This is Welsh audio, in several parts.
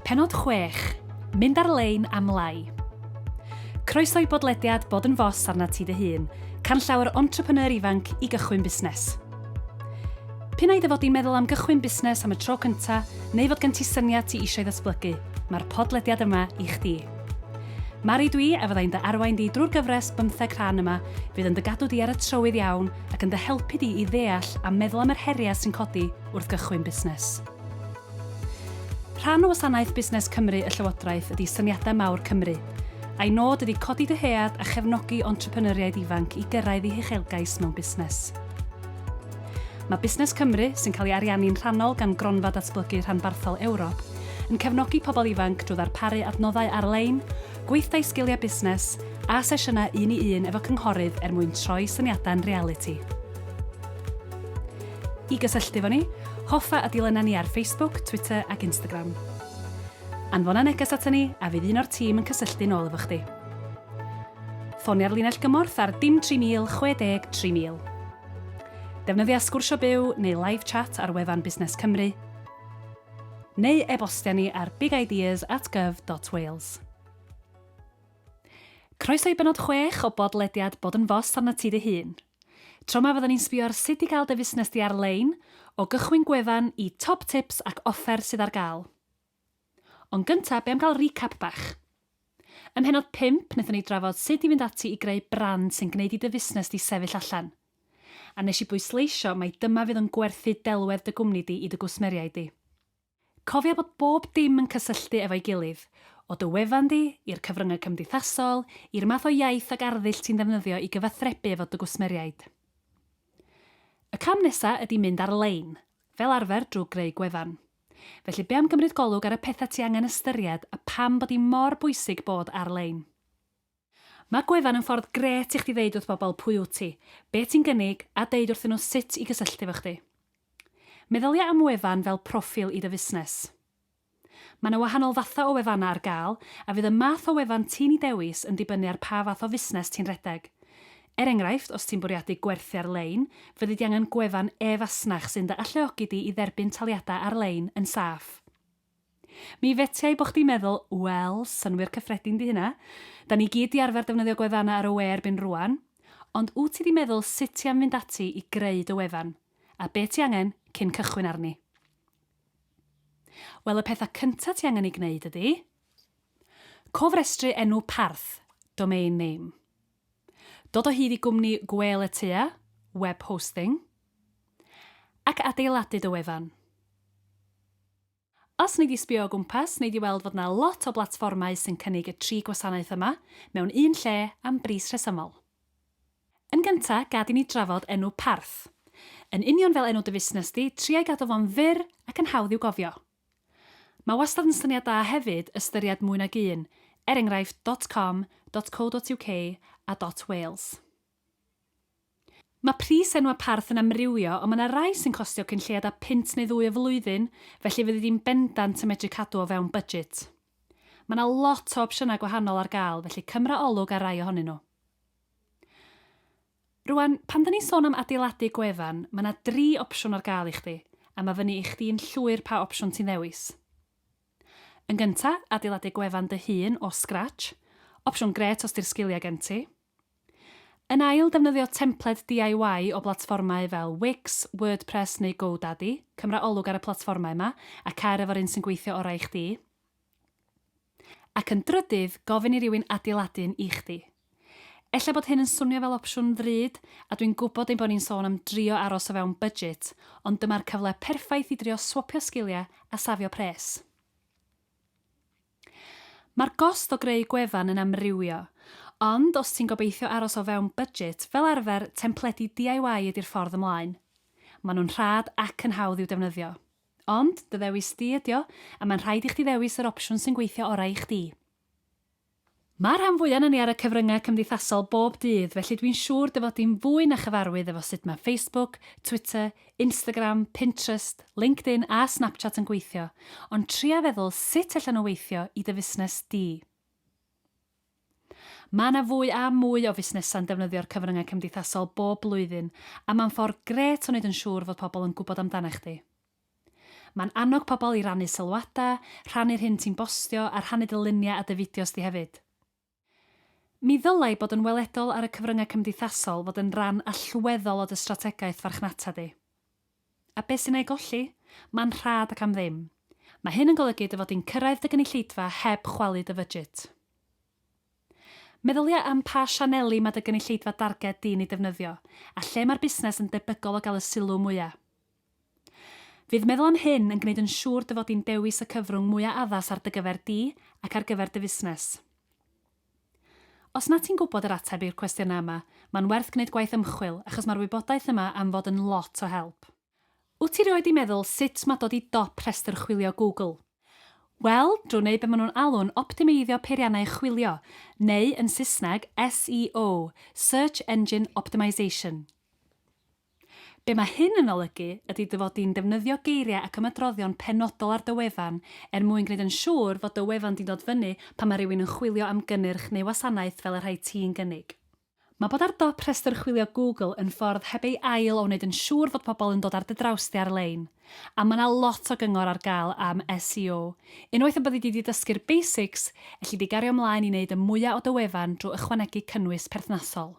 Pennod 6, Mynd ar lein am lai. Croeso i bodlediad Bod yn Fos arnat ti dy hun, canllawer entrepreneur ifanc i gychwyn busnes. P'un ai dy fod i'n meddwl am gychwyn busnes am y tro cynta, neu fod gen ti syniad ti eisiau ddatblygu, mae'r podlediad yma i chdi. Mari dwi a fyddai'n dy arwain di drwy'r gyfres bymtheg rhan yma fydd yn dy gadw di ar y trywydd iawn ac yn dy helpu di i ddeall a meddwl am yr heriau sy'n codi wrth gychwyn busnes. Rhan o Wasanaeth Busnes Cymru y Llywodraeth ydy Syniadau Mawr Cymru, a'i nod ydy codi dyhead a chefnogi entrepreneuriaid ifanc i gyrraedd eu huchelgais mewn busnes. Mae Busnes Cymru, sy'n cael ei ariannu'n rhannol gan Gronfa Datblygu Rhanbarthol Ewrop, yn cefnogi pobl ifanc drwy ddarparu adnoddau ar-lein, gweithdai sgiliau busnes, a sesiynau un i un efo cynghorydd er mwyn troi syniadau'n realiti. I gysylltu efo ni, hoffa a dilyna ni ar Facebook, Twitter ac Instagram. Anfona neges aton ni a fydd un o'r tîm yn cysylltu'n ôl efo chdi. Ffonia'r linell gymorth ar dim 3000 60 3000. Defnyddia Sgwrsio Byw neu Live Chat ar wefan Busnes Cymru. neu e-bostia ni ar bigideas at gov dot wales. Croeso i benod chwech o bodlediad Bod yn Fos arnat ti dy hun. Tro ma fyddwn ni'n sbio ar sut i gael dy fusnes di ar lein, o gychwyn gwefan i top tips ac offer sydd ar gael. Ond gynta, be am gael recap bach? Ym mhennod pump, wnaethon ni drafod sut i fynd ati i greu brand sy'n gwneud i dy fusnes di sefyll allan. A nes i bwysleisio mai dyma fydd yn gwerthu delwedd dy gwmni di i dy gwsmeriaid di. Cofia bod bob dim yn cysylltu efo'i gilydd, o dy wefan di, i'r cyfryngau cymdeithasol, i'r math o iaith ac arddull ti'n ddefnyddio i gyfathrebu efo dy gwsmeriaid. Y cam nesa ydi mynd ar-lein, fel arfer drw greu gwefan. Felly be am gymryd golwg ar y petha ti angen ystyried a pam bod i mor bwysig bod ar-lein. Mae gwefan yn ffordd grêt i chdi ddeud wrth bobl pwy wyt ti, be ti'n gynnig a deud wrthyn nhw sut i gysylltu efo chdi. Meddylia am wefan fel proffil i dy fusnes. Mae 'na wahanol fathau o wefannau ar gael a fydd y math o wefan ti'n ei dewis yn dibynnu ar pa fath o fusnes ti'n rhedeg. Er enghraifft, os ti'n bwriadu gwerthu ar-lein, fyddi di angen gwefan e-fasnach sy'n dy alluogi di i dderbyn taliadau ar-lein yn saff. Mi fetiai bo chdi'n meddwl, 'Wel, synnwyr cyffredin 'di hynna. Da ni gyd 'di arfer defnyddio gwefannau ar y we erbyn rŵan. Ond wt ti 'di meddwl sut ti am fynd ati i greu dy wefan, a be ti angen cyn cychwyn arni? Wel, y pethau cynta ti angen eu gwneud ydi. Cofrestru enw parth, domain name. Dod o hyd i gwmni gwêl y tua, web hosting, ac adeiladu dy wefan. Os wnei di sbio o gwmpas, wnei di weld fod yna lot o blatfformau sy'n cynnig y tri gwasanaeth yma mewn un lle am bris rhesymol. Yn gyntaf, gad i ni drafod enw parth. Yn union fel enw dy fusnes di, tria i gadw fo'n fyr ac yn hawdd i'w gofio. Mae wastad yn syniad da hefyd ystyried mwy nag un, er enghraifft dot com, dot co dot uk a dot wales. Mae pris enwau parth yn amrywio ond mae yna rai sy'n costio cyn lleied â punt neu ddwy y flwyddyn, felly fyddi di'n bendant yn medru cadw o fewn budget. Mae yna lot o opsiynau gwahanol ar gael, felly cymra olwg ar rai ohonyn nhw. Rŵan, pan 'da ni'n sôn am adeiladu gwefan, ma' 'na dri opsiwn ar gael i chdi, a ma' fyny i chdi'n llwyr pa opsiwn ti'n ddewis. Yn gynta, adeiladu gwefan dy hun o scratch, opsiwn grêt os 'di'r sgiliau gen ti. Yn ail, defnyddio templed DIY o blatfformau fel Wix, WordPress neu GoDaddy, cymra olwg ar y platfformau 'ma, a cer efo'r un sy'n gweithio orau i chdi. Ac yn drydydd, gofyn i rywun adeiladu un i chdi. Ella bod hyn yn swnio fel opsiwn ddrud, a dwi'n gwybod ein bod ni'n sôn am drio aros o fewn budget, ond dyma'r cyfle perffaith i drio swopio sgiliau a safio pres. Mae'r gost o greu gwefan yn amrywio, ond os ti'n gobeithio aros o fewn budget, fel arfer, templedi DIY ydi'r ffordd ymlaen. Maen nhw'n rhad ac yn hawdd i'w defnyddio. Ond, dy ddewis di ydi o, a mae'n rhaid i chdi ddewis yr opsiwn sy'n gweithio orau i chdi. Mae'r rhan fwya na ni ar y cyfryngau cymdeithasol bob dydd, felly dwi'n siŵr dy fod di'n fwy na chyfarwydd efo sut mae Facebook, Twitter, Instagram, Pinterest, LinkedIn a Snapchat yn gweithio, ond tria feddwl sut allan nhw weithio i dy fusnes di. Mae yna fwy a mwy o fusnesau'n defnyddio'r cyfryngau cymdeithasol bob blwyddyn a mae'n ffordd grêt o wneud yn siŵr fod pobl yn gwybod amdanach chdi. Mae'n annog pobl i rannu sylwadau, rhannu'r hyn ti'n bostio a rhannu dy luniau a dy fideos di hefyd. Mi ddylai bod yn weledol ar y cyfryngau cymdeithasol fod yn ran allweddol o dy strategaeth farchnata di. A beth sy'n ei golli? Mae'n rhad ac am ddim. Mae hyn yn golygu dy fod di'n cyrraedd dy gynulleidfa heb chwalu dy fydjit. Meddylia am pa sianeli mae dy gynulleidfa darged di'n ei defnyddio, a lle mae'r busnes yn debygol o gael y sylw mwya'. Fydd meddwl am hyn yn gwneud yn siŵr dy fod di'n dewis y cyfrwng mwya' addas ar dy gyfer di ac ar gyfer dy fusnes. Os na ti'n gwybod yr ateb i'r cwestiynau yma, mae'n werth gwneud gwaith ymchwil achos mae'r wybodaeth yma am fod yn lot o help. Wyt ti rioed di meddwl sut mae dod i dop rhestr chwilio Google? Wel, drwy wneud be maen nhw'n alw'n optimeiddio peiriannau chwilio, neu yn Saesneg, SEO, Search Engine Optimization. Be mae hyn yn olygu ydy dy fod di'n defnyddio geiriau ac ymadroddion penodol ar dy wefan er mwyn gwneud yn siŵr fod dy wefan di'n dod fyny pan mae rhywun yn chwilio am gynnyrch neu wasanaeth fel y rhai ti'n gynnig. Mae bod ar dop rhestr chwilio Google yn ffordd heb ei ail o wneud yn siŵr fod pobl yn dod ar dy draws di ar-lein. A mae yna lot o gyngor ar gael am SEO. Unwaith y byddi di 'di dysgu'r basics, elli di gario mlaen i wneud y mwya' o dy wefan drwy ychwanegu cynnwys perthnasol.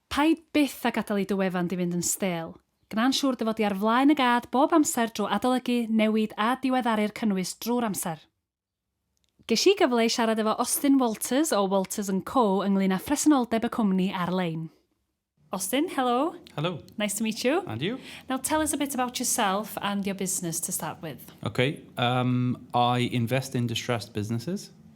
Paid byth â gadael i dy wefan di fynd yn stêl. Gwna'n siŵr dy fod di ar flaen y gad bob amser drwy adolygu, newid a diweddaru'r cynnwys drwy'r amser. Ges i gyfle i siarad efo Austin Walters o Walters and Co ynglŷn â phresenoldeb y cwmni ar-lein. Austin, helo. Helo. Nice to meet you. And you. Now tell us a bit about yourself and your business to start with. Okay, um, I invest in distressed businesses.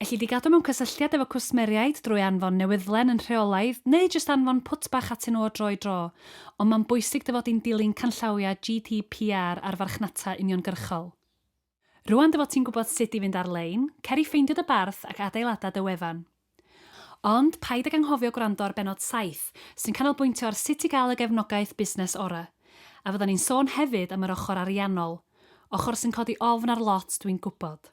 Ellid i gadw mewn cysylltiad efo cwsmeriaid drwy anfon newyddlen yn rheolaidd neu jyst anfon pwt bach atyn nhw o dro i dro, ond mae'n bwysig dy fod di'n dilyn canllawiau GDPR ar farchnata uniongyrchol. Rŵan dy fod ti'n gwybod sut i fynd ar-lein, cer i ffeindio dy barth ac adeilada dy wefan. Ond paid ag anghofio gwrando ar bennod saith, sy'n canolbwyntio ar sut i gael y gefnogaeth busnes ora'. A fyddan ni'n sôn hefyd am yr ochr ariannol. Ochr sy'n codi ofn ar lot, dwi'n gwybod.